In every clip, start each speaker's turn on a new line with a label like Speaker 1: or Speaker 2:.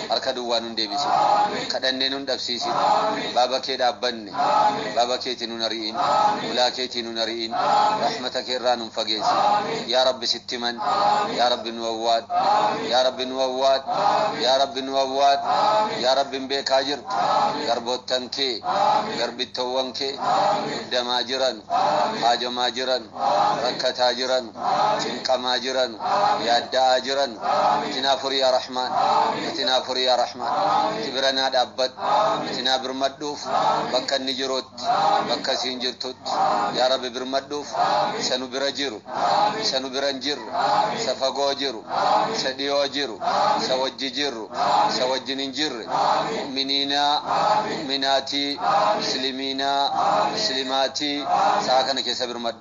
Speaker 1: harka duwwaa nun deebisin. Kadhannee nun dhabsiisin. Baaba kee dhaabbanne. Baaba keetii nun ari'in. Hulaa keetii nun ari'in. Rahmata kee irraa nun fageessin. Yaa Rabbi sitti himanne. Yaa Rabbi nu awwaadhu. Yaa Rabbi nu awwaadhu. Yaa Rabbi nu awwaadhu. Yaa Rabbi hin beekaa jirtu. Garboottan kee, garbittoowwan kee muddamaa jiranu. Haajomaa jiranu. Rakkataa jiranu. cinqamaa jiranu yaadda'aa jiranu itti naa furi yaa rahmaan itti naa furi yaa rahmaan itti bira naa dhaabbadhu itti naa birmadhuuf bakka inni jirutti bakka isiin jirtutti yaa rabbi birmadhuuf isa nu bira jiru isa nu bira hin jirre isa fagoo jiru isa dhiyoo jiru isa wajji jirru isa wajjin hin jirre mu'miniinaa mu'minaatii muslimiinaa muslimaatii sa'a kana keessa birmadhu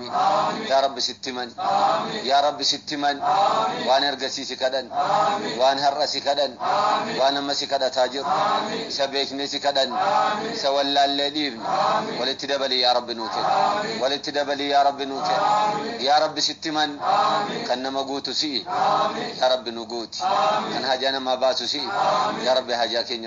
Speaker 1: yaa rabbi sitti himan yaa rabbi sitti himan waan ergasii si kadhan waan har'a si kadhan waan amma si kadhataa jiru isa beeknee si kadhan isa wallaallee dhiifne walitti dabalii yaa rabbi nuu kenni walitti dabalii yaa rabbi nuu kenni yaa rabbi sitti himan kan nama guutu si'i yaa rabbi nu guuti kan hajaa namaa baasu si'i yaa rabbi hajaa keenya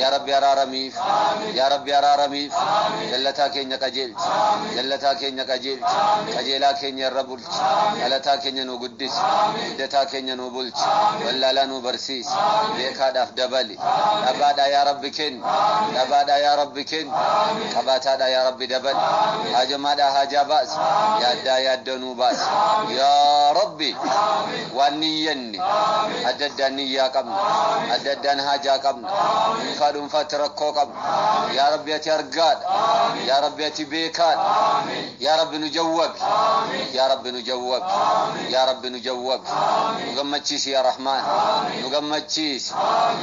Speaker 1: yaa rabbi araaramiif yaa rabbi araaramiif jallataa keenya qajeelchi jallataa keenya qajeelchi qajeelaa keenya irra bulchi dhalataa keenya nu guddisi guddataa keenya nu bulchi wallaalaa nu barsiisi beekaadhaaf dabali dhabaadhaa yaa rabbi kenni dhabaadhaa yaa rabbi kenni qabaataadhaa yaa rabbi dabali haajamaadhaa haajaa baasi yaaddaa yaaddoo nu baasi yaa rabbi waan niyyanne kenne. Adda addaan niyyaa qabna. Adda addaan haajaa qabna. Dhuunfaa dhuunfaatti rakkoo qabna. Yaa Rabbi ati argaadha. Yaa Rabbi ati beekaadha. Yaa Rabbi nu jawwabi. Yaa Rabbi nu jawwabi. Yaa Rabbi nu jawwabi. Nu gammachiisi yaa Rahmaan. Nu gammachiisi.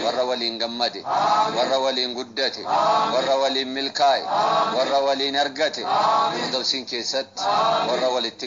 Speaker 1: Warra waliin gammade. Warra waliin guddate. Warra waliin milkaa'e. Warra waliin argate. Firdowsiin keessatti warra walitti